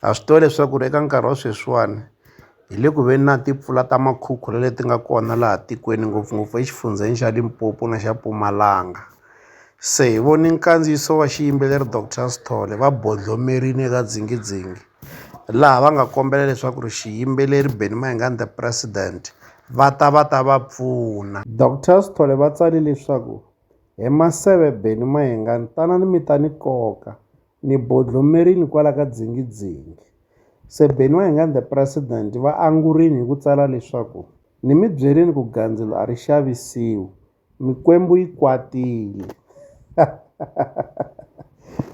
ha swi tiva leswaku ri eka nkarhi wa sweswiwani hi le ku veni na timpfula ta makhukhula leti nga kona laha tikweni ngopfungopfu exifundzheni xa Limpopo na xa Mpumalanga se hi voni nkandziyiso wa xiyimbeleri Doctor Sithole va bodlomerile eka dzingidzingi laha va nga kombela leswaku ri xiyimbeleri Benny Mayengani the president va ta va ta va pfuna Doctor Sithole va tsale leswaku hi maseve Benny Mayengani tanani mi ta ni koka ni bodlomerile kwala ka dzingidzingi. Se Benny wa hina the President va angurile hi ku tsala leswaku, Ni mi byerile ku gandzelo a ri xavisiwi, mikwembu yi kwatile.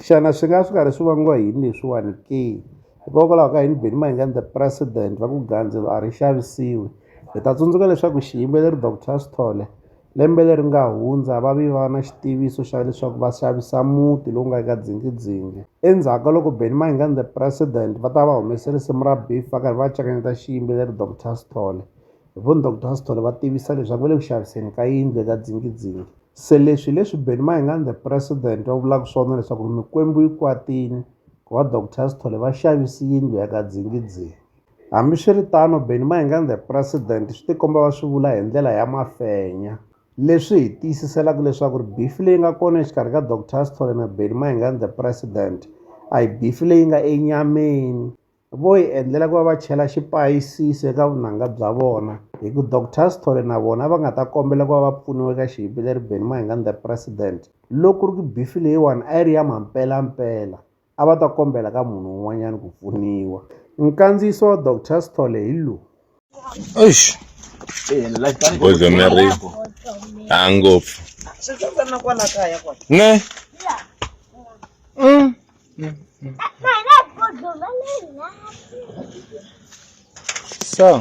Xana swi nga swi karhi swi vangiwa hi yini leswiwani ke? Hikokwalaho ka yini Benny Mayengani the President va ku gandzelo a ri xavisiwi? Hi ta tsundzuka leswaku xiyimbeleri Doctor Sithole Lembe leri nga hundza, va ve va va na xitiviso xa leswaku va xavisa muti lowu nga eka Dzingidzingi. Endzhaku ka loko Benny Mayengani The President va ta va va humese risimu ra Beef va karhi va cakanyeta xiyimbeleri Doctor Sithole. Hi vona Doctor Sithole va tivisa leswaku va le ku xaviseni ka yindlu eka Dzingidzingi. Se leswi hi leswi Benny Mayengani The President va vulaka swona leswaku Mikwembu yi kwatile, ku va Doctor Sithole va xavise yindlu ya ka Dzingidzingi. Hambiswiritano, Benni Mayengani the President swi tikomba va swi vula hi ndlela ya mafenya, leswi hi tiyisiselaka leswaku bifi leyi nga kona exikarhi ka Doctor Sithole na Benni Mayengani the President a hi bifi leyi nga enyameni. Vo yi endlela ku va va chela xipayisisi eka vunanga bya vona hi ku Doctor Sithole na vona va nga ta kombela ku va va pfuniwa eka xihipileri Benni Mayengani the President loko ku ri ku bifi leyiwani a yi ri ya mampelampela. a va ta kombela ka munhu un'wanyana ku pfuniwa. Nkandziyiso wa Doctor Sithole hi lowu. Eish. Voice of Mary. Ha ngopfu. Ne? Mm. So.